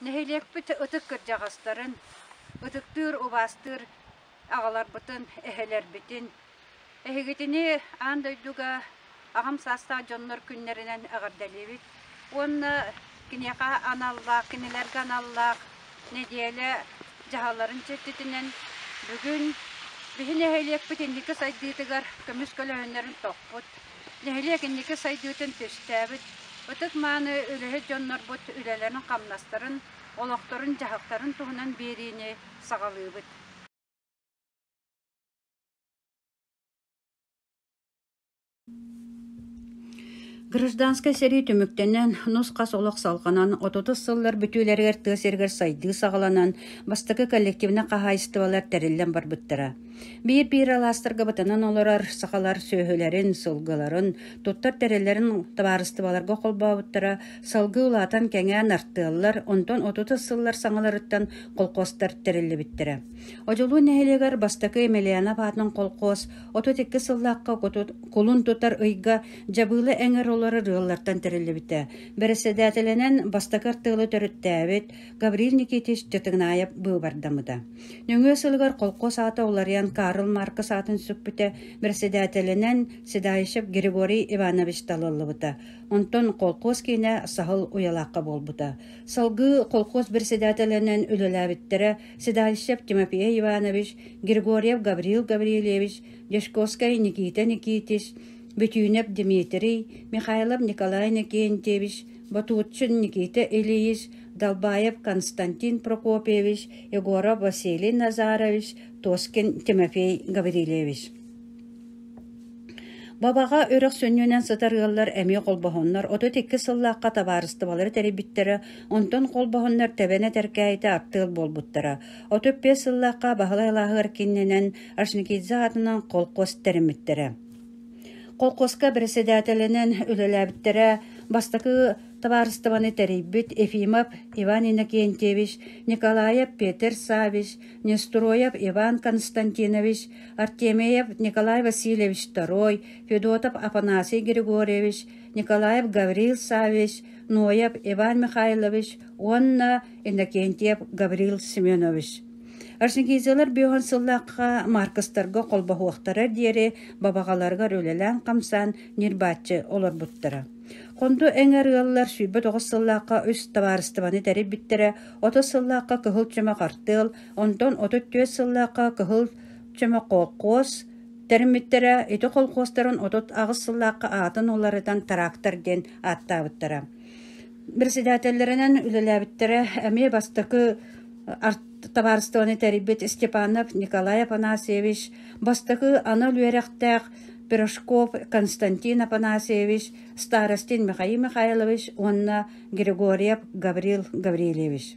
Нэһилиэкпит ытык кырдьаҕастарын, ытыктыыр, убаастыыр аҕаларбытын, эһэлэрбитин, эһигитини аан дойдуга аҕам саастаах дьоннор күннэринэн эҕэрдэлиибит уонна киниэхэ аналлаах, кинилэргэ аналлаах нэдиэлэ дьаһалларын чэрчитинэн бүгүн биһи нэһилиэкпит инники сайдыытыгар көмүс көлөһүннэрин тохпут нэһилиэк инники сайдыытын түстээбит, ытык-мааны үлэһит дьоннорбут үлэлэрин-хамнастарын, олохторун-дьаһыктарын туһунан биэриини саҕалыыбыт. Гражданскай сэрии түмүктэнэн, нус-хас олох салҕанан, отутус сыллар бүтүүлэригэр тыа сиригэр сайдыы саҕаланан, бастакы коллективнай хаһаайыстыбалар тэриллэн барбыттара. Биир-биир алаастарга бытанан олорор сахалар сүөһүлэрин, сылгыларын, туттар тэриллэрин табаарыстыбаларга холбообуттара салгыы улаатан кэҥээн артыаллар, онтон отутус сыллар саҥаларыттан колхозтар тэриллибиттэрэ. Одьулуун нэһилиэгэр бастакы Емельянов аатын колхоз отут икки сыллаахха кулун тутар ыйга дьабыылы эҥэр олорор ыаллартан тэриллибитэ. Бэрэссэдээтэлинэн бастакы артыалы төрүттээбит Гаврил Никитич Дьатыгнаев быыбардамыта. Нөҥүө сылыгар холкуос аата уларыйан Карл Маркс аатын сүкпүтэ, бэрэссэдээтэлинэн седающев Григорий Иванович талыллыбыта. Онтон холкуос киинэ Саһыл Уйалаахха буолбута. Салгыы холкуос бэрэссэдээтэлинэн үлэлээбиттэрэ седающев Тимофей Иванович, Григорьев Гаврил Гаврильевич, Дешковскай Никита Никитич, Бетюнев Дмитрий, Михайлов Николай Никентьевич, Ботуутчин Никита Ильич, Долбаев Константин Прокопьевич, Егоров Василий Назарович, Тоскин Тимофей Гаврильевич Бабаҕа үрэх сүнньүнэн сытар ыаллар эмиэ холбоһоннор отут икки сыллаахха табаарыстыбалары тэрийбиттэрэ, онтон холбоһоннор тэбэн этэркээйитэ аттыал буолбуттара. Отут биэс сыллаахха Баһылай Алааһыгар кииннэнэн Ашникидзе аатынан холкуос тэриммиттэрэ. Холкуоска бэрэссэдээтэлинэн үлэлээбиттэрэ бастакы табаарыстыбаны тэрийбит Ефимов Иван Иннокентьевич, Николаев Петр Саввич, Нестроев Иван Константинович, Артемеев Николай Васильевич II, Федотов Афанасий Григорьевич, Николаев Гаврил Саввич, Ноев Иван Михайлович уонна Иннокентьев Гаврил Семенович Арсенгизелар бүөһүн сыллаахха Маркостарга холбоһуохтара диэри бабаҕаларыгар үлэлээн-хамсаан ньырбааччы олорбуттара. Хонду эҥэр ыаллар сүүрбэ тоҕус сыллаахха үс табаарыстыбаны тэрийбиттэрэ, отут сыллаахха кыһыл чөмө хартыал, онтон отут түөрт сыллаахха кыһыл чөмө колхоз тэриммиттэрэ, ити колхозтарын отут аҕыс сыллаахха аатын уларытан трактор диэн ааттаабыттара. Бэрэссэдээтэллэринэн үлэлээбиттэрэ эмиэ бастакы табаарыстыбаны тэрийбит Степанов Николай Афанасьевич, бастакы анал үөрэхтээх Пирожков Константин Афанасьевич, Старостин Михаил Михайлович уонна Григорьев Гаврил Гаврильевич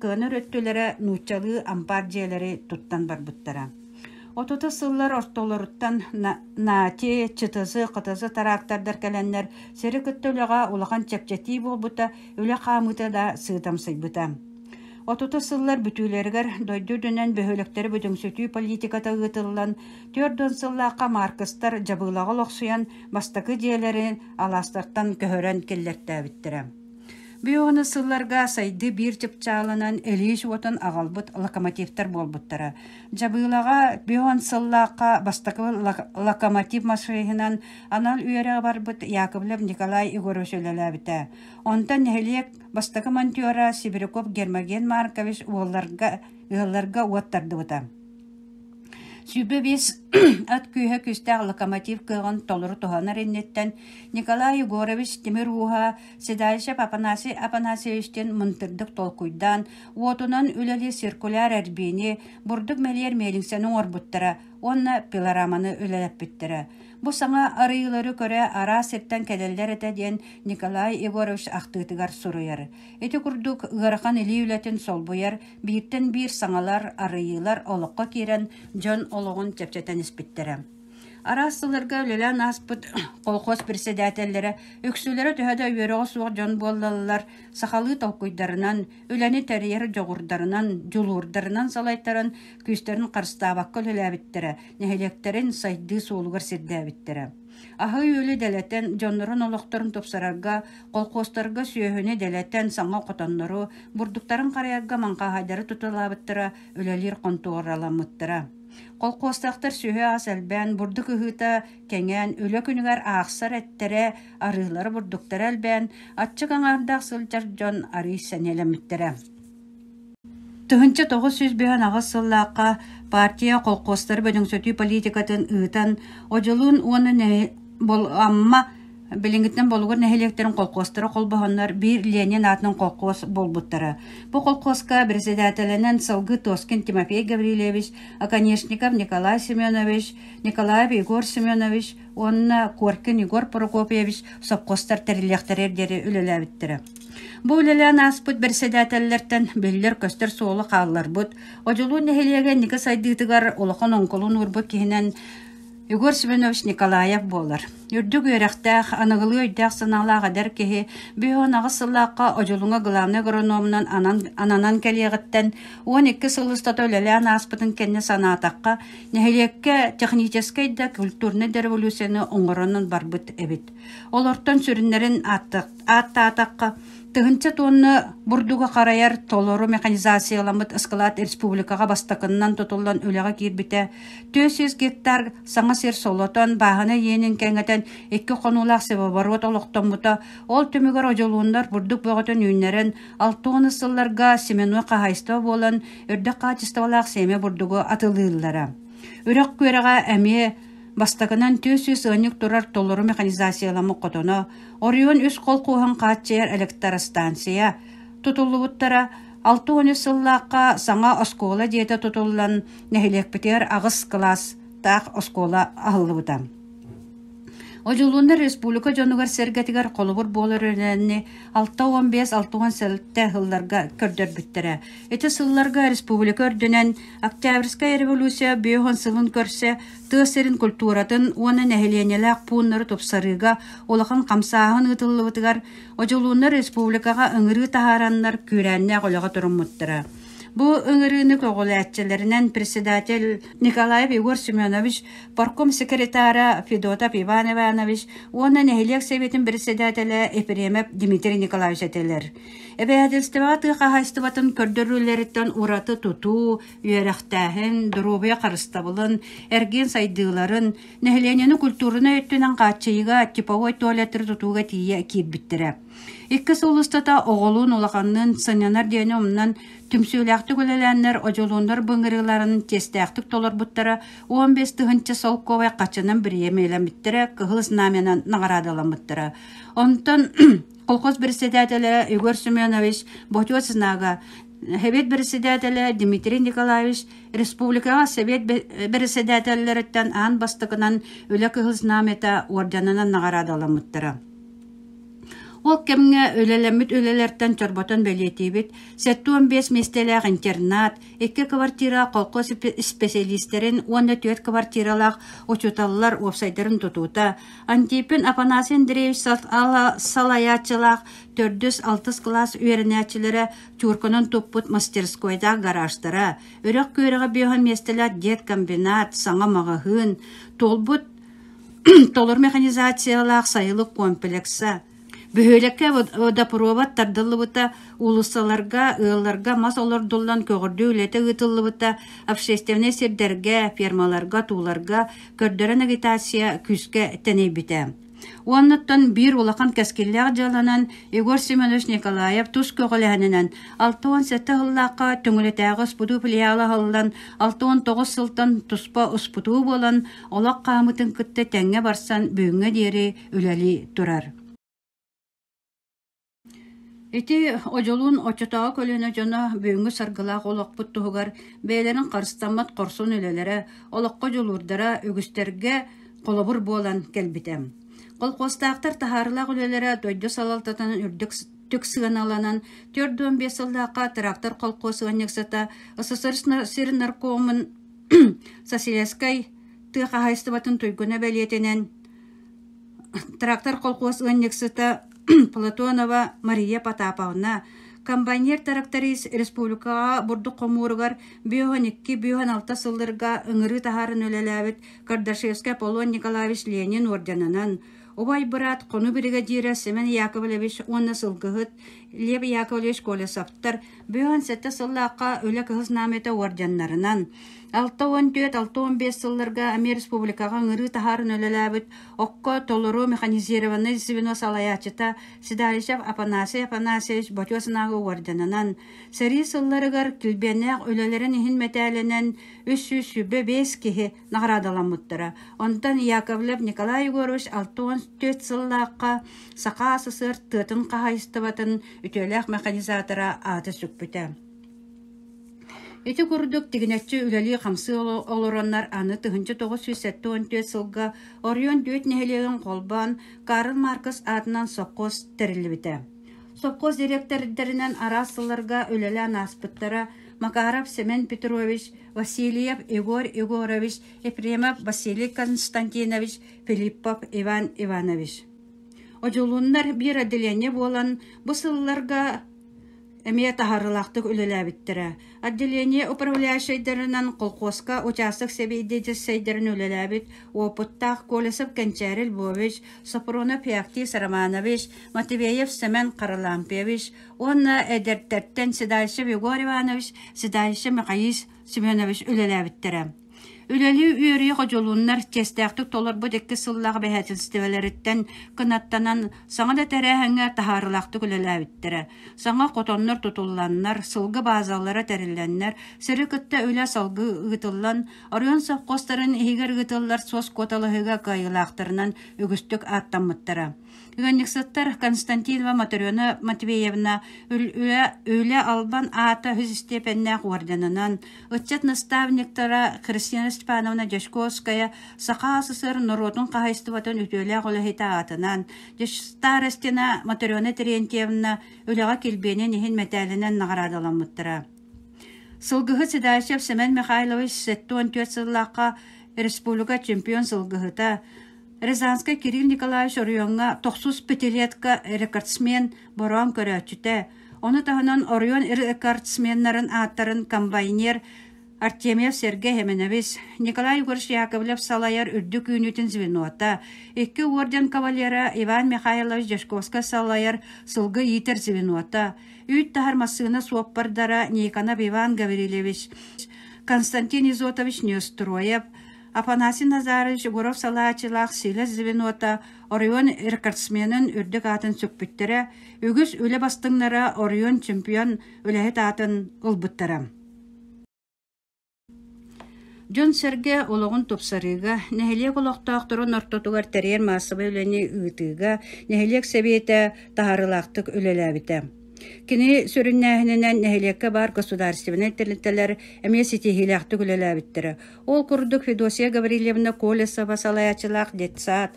кыанар өттүлэрэ нууччалыы ампаар дьиэлэри туттан барбыттара отута сыллар ортолоруттан наати чытысы хытысы тыраактардар кэлэннэр сири кытта үлэҕэ улахан чэпчэтии буолбута үлэ хаамыыта да сыытамсыйбыта отута сыллар бүтүүлэригэр дойду үрдүнэн бөһүөлэктэри бүдүҥсүтүү политиката ыытыллан түөрт уон сыллаахха маркыстар дьабыылаҕа олохсуйан бастакы дьиэлэри алаастартан көһөрөн киллэртээбиттэрэ Биһиэхэ сылларга сайдыы биир чыпчаалынан илиис уотун аҕалбыт локомотивтар буолбуттара. Дьабыылаҕа биһиэхэ сыллаахха бастакыбын локомотив машиһынан анал үөрэҕи барбыт Яковлев Николай Егорович үлэлээбитэ. Онтон нэһилиэк бастакы монтера Сибиряков Гермоген Маркович уолларга ыалларга уот тардыбыта. Сүүрбэ биэс от күүһэ күүстээх локомотив кыаҕын толору туһанар инниттэн Николай Егорович тимир ууһа седалищев Апанасий Апанасьевичтыын мындырдык толкуйдаан, уотунан үлэлии циркуляр эрбиини, бурдук мэлийэр миэлиҥсэни оҥорбуттара уонна пилораманы үлэлэппиттэрэ. Бу саҥа арыйыылары көрө араас сиртэн кэлэллэр этэ диэн Николай Егорович ахтыытыгар суруйар. Ити курдук ыарахан илии үлэтин солбуйар Бииртэн биир саҥалар, арыйыылар олоххо киирэн, дьон олоҕун чэпчэтэн испиттэрэ. Араас сылларга үлэлээн ааспыт колхоз председателлэрэ үксүлэрэ төһө да үөрэҕэ суох дьон буоллаллар, сахалыы толкуйдарынан, үлэни тэрийэр дьоҕурдарынан, дьулуурдарынан салайтаран, күүстэрин харыстаабакка үлэлээбиттэрэ, нэһилиэктэрин сайдыы суолугар сирдээбиттэрэ. Аһыы-үөлү дэлэтэн, дьоннорун олохторун тупсарарга, колхозтарга сүөһүнү дэлэтэн саҥа хотоннору, бурдуктарын харайарга маҥхаһайдары тутулаабыттара, үлэлиир хонтуораламмыттара. Колхозтаахтар сүһү-ас элбээн, бурдук ыһыыта кэҥээн, үлэ күнүгэр аахсар эттэрэ, арыылара бурдуктара элбээн, аччык аҥаардаах сылдьар дьон арыый сэниэлэммиттэрэ. Тыһыынча тоҕус сүүс быһан аҕыс сыллаахха партия колхозтары бөдөҥсөтүү политикатын ыытан, Одьулуун уонна нэһи... Бол... Амма билиҥҥиттэн Болугур нэһилиэктэрин колхозтара холбоһоннор биир Ленин аатын колхоз буолбуттара. Бу колхозка председателинэн сылгы Тоскин Тимофей Гаврильевич, оконешников Николай Семенович, Николаев Егор Семенович уонна Коркин Егор Прокопьевич совхозтар тэриллиэхтэрэ диэри үлэлээбиттэрэ. Бу үлэлээн ааспыт бэрэссэдээтэллэртэн биллэр-көстөр суолу хаалларбыт, Одьулуун нэһилиэгэ инники сайдыытыгар улахан оҥкулун уурбут киһинэн Егор Семенович Николаев буолар. Үрдүк үөрэхтээх, аныгылыы өйдөөх-санаалаах эдэр киһи биһион аҕыс сыллаахха Одьулуҥа главнай агрономунан анан, ананан кэлиэҕиттэн уон икки сыл устата үлэлээн ааспытын кэннэ санаатахха, нэһилиэккэ техническэй да культурнай да революцияны оҥоронон барбыт эбит. Олортон сүрүннэрин ааттыахха ааттаатахха, тыһыынча туонна бурдугу харайар толору механизацияламмыт ыскылаат республикаҕа бастакыннан тутуллан үлэҕэ киирбитэ, түөрт сүүс гектар саҥа сир солотон, бааһына иэнин кэҥэтэн, икки хонуулаах севооборот олохтоммута, ол түмүгэр одьулууннар бурдук бөҕөтүн үүннэрэн, алта уон сылларга семенной хаһаайыстыба буолан, өрдөх хаачыстыбалаах сиэмэ бурдугу атылыыллара. Үрэх күөрэҕэ эмиэ Бастакынан түөс-үс ыанньык турар толору механизацияламмыт хотоно, Орион үс холкуоһун хааччыйар электростанция, тутуллубуттара алта уон үс сыллаахха саҥа оскуола дьиэтэ тутуллан, нэһилиэкпитигэр аҕыс кылаас таах оскуола аһыллыбыта. Одьулууннар республика дьонугар-сэргэтигэр холобур буолар өрөөнү алта уон биэс алта уон сэттэ сылларга көрдөрбүттэрэ Ити сылларга республика үрдүнэн Октябрьская революция бүөһүн сылын көрсө тыа сирин культуратын уонна нэһилиэнньэлээх пууннары тупсарыыга улахан хамсааһын ыытыллыбытыгар Одьулууннар республикаҕа ыҥырыы таһаараннар күүрээннээх үлэҕэ туруммуттара. Бу ыҥырыыны көҕүлээччилэринэн председатель Николаев Егор Семенович, парком секретара Федотов Иван Иванович уонна нэһилиэк сэбиэтин председателэ Ефремов Дмитрий Николаевич этилэр. Эбэһээтэлистибэҕэ тыа хаһаайыстыбатын көрдөрүүлэриттэн ураты тутуу, үөрэхтээһин, доруобуйа харыстабылын, эргиэн сайдыыларын, нэһилиэнньэни культурнай өттүнэн хааччыйыыга, типовой туалеттары тутууга тиийэ киирбиттэрэ. Икки сыл устата оҕолуун, улаханныын сынньанар диэни умнан, түмсүүлээхтик үлэлээннэр одьулууннар былыҥырыыларын чиэстээхтик толорбуттара, он бес тыһыынча солкуобай хаччынан бириэмэлэммиттэрэ, кыһыл знамянан наҕараадаламмыттара. Онтон колхоз председателэ Егор Семенович Ботьосинага, Совет председателэ Дмитрий Николаевич республикаҕа Совет председателлэриттэн аан бастакынан Үлэ Кыһыл Знамята орденынан наҕараадаламмыттара. Ол кэмҥэ үлэлэммит үлэлэртэн чорботон бэлиэтиибит, 75 миэстэлээх интернат, икки квартира колхоз специалистарын уонна түөрт квартиралаах учууталлар уопсайдарын тутуута, Антипин Афанасий Андреевич салайааччылаах төрдүс-алтыс кылаас үөрэнээччилэрэ чуурканан туппут мастерскойдаах гараждара, үрэх күөрэҕэ бөһө миэстэлээх деткомбинат, саҥа маҕаһыын, туолбут толор механизациялаах сайылык комплекса, Бөһүөлэккэ водопровод тардыллыбыта, уулуссаларга, ыалларга мас олордуллан көҕөрдүү үлэтэ ыытыллыбыта, общественнай сирдэргэ, фермаларга, тууларга көрдөрөн агитация күүскэ тэнийбитэ. Уоннаттан биир улахан кэскиллээх дьыаланан Егор Семенович Николаев тус көҕүлэһининэн алта уон сэттэ сыллаахха Төҥүлэтээҕи успутуу филиала аһыллан, алта уон тоҕус сылтан туспа успутуу буолан, Олох хаамыытын кытта тэҥҥэ барсан бүгүҥҥэ диэри үлэлии турар. Ити Одьолуун оччотооҕу көлүөнэ дьоно бүгүҥҥү саргылаах олохпут туһугар бэйэлэрин харыстаммат хорсун үлэлэрэ, олоххо дьулуурдара үгүстэргэ холобур буолан кэлбитэ. Колхозтаахтар таһаарылаах үлэлэрэ дойду салалтатын үрдүк түк сыаналанан төрт уон биэс сыллаахха трактор колхоз ыанньыксата СССР наркомун Соседскай тыа хаһаайыстыбатын туйгуна бэлиэтинэн, трактор колхуос ыанньыксыта Платонова Мария Потаповна, комбайнер тракторист республикаҕа бурдук хомууругар бүөһүн икки, бүөһүн алта сылларга ыҥырыы таһааран үлэлээбит Кардашевскай Аполлон Николаевич Ленин орденынан, убай быраат, хонуу биригэдьиирэ Семен Яковлевич уонна сылгыһыт Лев Яковлевич Колесовтар Бүгүн сэттэ сыллаахха Үлэ кыһыс наамыйата уордьаннарынан, алта уон түөрт, алта уон биэс сылларга Амир Республикаҕа ыҥырыы таһааран үлэлээбит Окко толору механизированнай звено салайааччыта Седалищев Апанасий Апанасьевич ботуо санааҕа уордьанынан, сэрии сылларыгар килбиэннээх үлэлэрин иһин мэтээлинэн үс сүүс сүүрбэ биэс киһи наҕараадаламмыттара. Онтон Яковлев Николай Егорович алта уон түөрт сыллаахха Саха СССР тыатын хаһаайыстыбатын үтүөлээх механизатора аата сүкпүтэ. Ити курдук тигинэччи үлэлии-хамсыы олороннор аны тыһынча тоҕус сүүс сэттэ он түөрт сылга Орион дүөт нэһилиэгин холбоон Карл Маркс аатынан сопхуос тэриллибитэ. Сопхуос директордэринэн араас сылларга үлэлээн ааспыттара Макаров Семен Петрович, Васильев Егор Егорович, Ефремов Василий Константинович, Филиппов Иван Иванович. Одьулуннар биир отделение буолан бу сылларга эмиэ таһарылаахтык үлэлээбиттэрэ. Отделение управляющайдарынан колхозка участок сэбиэдиэдьэссэйдэрин үлэлээбит опыттаах Колесов Кэнчээрил Львович, Сопронов Феоктис Романович, Матвеев Семен Каралампьевич, Уонна эдэртэртэн Седающев Егор Иванович, Седающев Михаил Семенович үлэлээбиттэрэ. Үлэлии үөрүйэ ходьулуннар честээхтик толорбут икки сыллаах бэһээтинстэбэлэриттэн кынаттанан саҥа да тэрээһиҥҥэ таһаарылаахтык үлэлээбиттэрэ. Саҥа хотоннор тутулланнар, сылгы баазалара тэриллэннэр, сиры кытта үлэ салгы ыытыллан, оройуон совхозтарын иһигэр ыытыллар суос куоталаһыыга кыайыылаахтарынан үгүстүк ааттаммыттара. Ыанньыксыттар Константинова Моторена Матвеевна Үлэ Албан аата үһүс истиэпэннээх орденынан, ыччат наставниктара Кристина Степановна Дьячковская Саха СССР норуотун хаһаайыстыбатын үтүөлээх үлэһитэ аатынан, Старостина Моторена Терентьевна үлэҕэ килбиэнин иһин мэтээлинэн наҕараадаламмыттара. Сылгыһыт Седашев Семен Михайлович 74 сыллаахха республика чемпион сылгыһыта, Рязанскай Кирилл Николаевич оройуоҥҥа тохсус пятилетка рекордсмен бороон көрөөччүтэ, ону таһынан оройуон рекордсменнарын ааттарын комбайнер Артемьев Сергей Еменович, Николай Егорович Яковлев салайар үрдүк үүнүүтүн звенота, икки орден кавалера Иван Михайлович Дьячковскай салайар сылгы иитэр звенота, үүт таһар массыына суоппардара Никонов Иван Гаврилевич, Константин Изотович Нестроев, Афанасий Назарович Егоров салааччылаах Силэс звенота оройуон рекордсменын үрдүк аатын сүкпүттэрэ, үгүс үлэ бастыҥнара оройуон чемпион үлэһит аатын ылбыттара. Дьон-сэргэ олоҕун тупсарыыга, нэһилиэк олохтоохторун ортотугар тэрийэр маассабай үлэни ыытыыга нэһилиэк сэбиэтэ таһаарыылаахтык үлэлээбитэ. Кини сүрүннээһининэн нэһилиэккэ баар государственнай тэрилтэлэр эмиэ ситиһиилээхтик үлэлээбиттэрэ. Ол курдук Федосия Гаврильевна Колесова салайааччылаах детсад,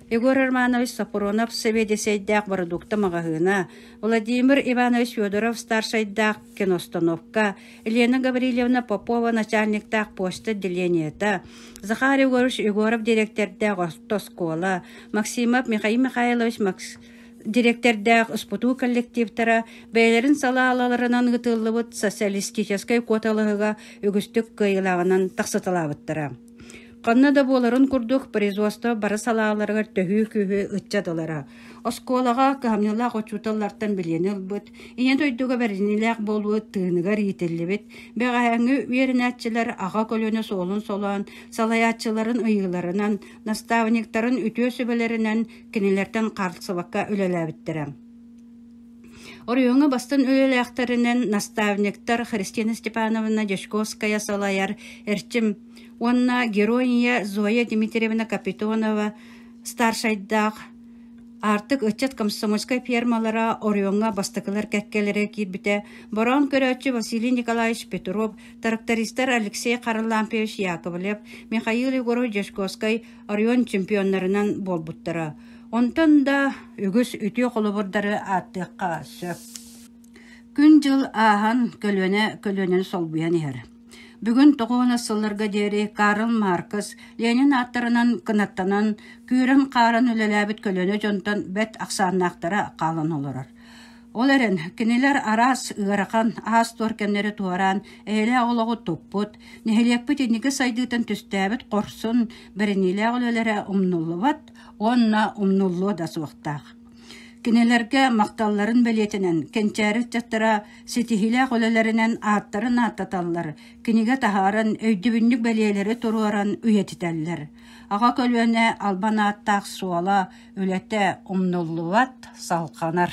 Егор Романович Сапоронов сэбиэдиссэйдээх бородуукта маҕаһыына, Владимир Иванович Федоров старшайдаах киностановка, Елена Гаврильевна Попова начальниктаах почта отделениета, Захар Егорович Егоров директордаах оскуола, Максимов Михаил Михайлович Макс дириэктэрдээх СПТУ коллективтара бэйэлэрин салааларынан ыытыллыбыт социалистическай куоталаһыга үгүстүк кыайылааҕынан тахсыталаабыттара. Ханна да буоларын курдук производство бары салааларыгар төһүү күһү ыччатылара. Оскуолаҕа кыһамньылаах учууталлартан билиэн ылбыт, ийэ дойдуга бэриниилээх буолуу тыыныгар иитиллибит, бэҕэһээҥҥи үөрэнээччилэр аҕа көлөнө суолун солоон, салайааччыларын ыйыыларынан, наставниктарын үтүө сүбэлэринэн Кинилэртэн хаартысабакка үлэлээбиттэрэ. Оройуоҥҥа бастан үлэлээхтэринэн наставниктар Христина Степановна Дьячковская салайар Эрчим уонна геройния Зоя Дмитриевна Капитонова старшайдаах Артык ыччат комсомольскай фермалара оройуоҥҥа бастакылар кэккэлэрэ киирбитэ бороон көрөөччү Василий Николаевич Петров, трактористар Алексей Харлампьевич Яковлев, Михаил Егорович Дьячковскай Орион чемпионнарынан буолбуттара. Онтон да үгүс үтүө холобурдары ааттыахха сөп. Күн-дьыл ааһан, көлүөнэ көлүөнэни солбуйан иһэр. Бүгүн тоҕуонас сылларга диэри Карл Маркс Ленин ааттарынан кынаттанан, күүрэн-хааран үлэлээбит көлүөнэ дьонтон бэрт ахсааннаахтара хаалан олорор. Ол эрэн, кинилэр араас ыарахан, аас-туор кэмнэри туораан, эйэлээх олоҕу туппут, нэһилиэкпит инники сайдыытын түстээбит хорсун бэриниилээх үлэлэрэ умнуллубат уонна умнуллуо да суохтаах. Кинилэргэ махталларын бэлиэтинэн, кэнчээри ыччаттара ситиһиилээх үлэлэринэн ааттарын ааттаталлар, кинигэ таһааран, өйдөбүнньүк бэлиэлэри туруоран үйэтитэллэр. Аҕа көлүөнэ албан ааттаах суола, Үлэтэ умнуллубат, салҕанар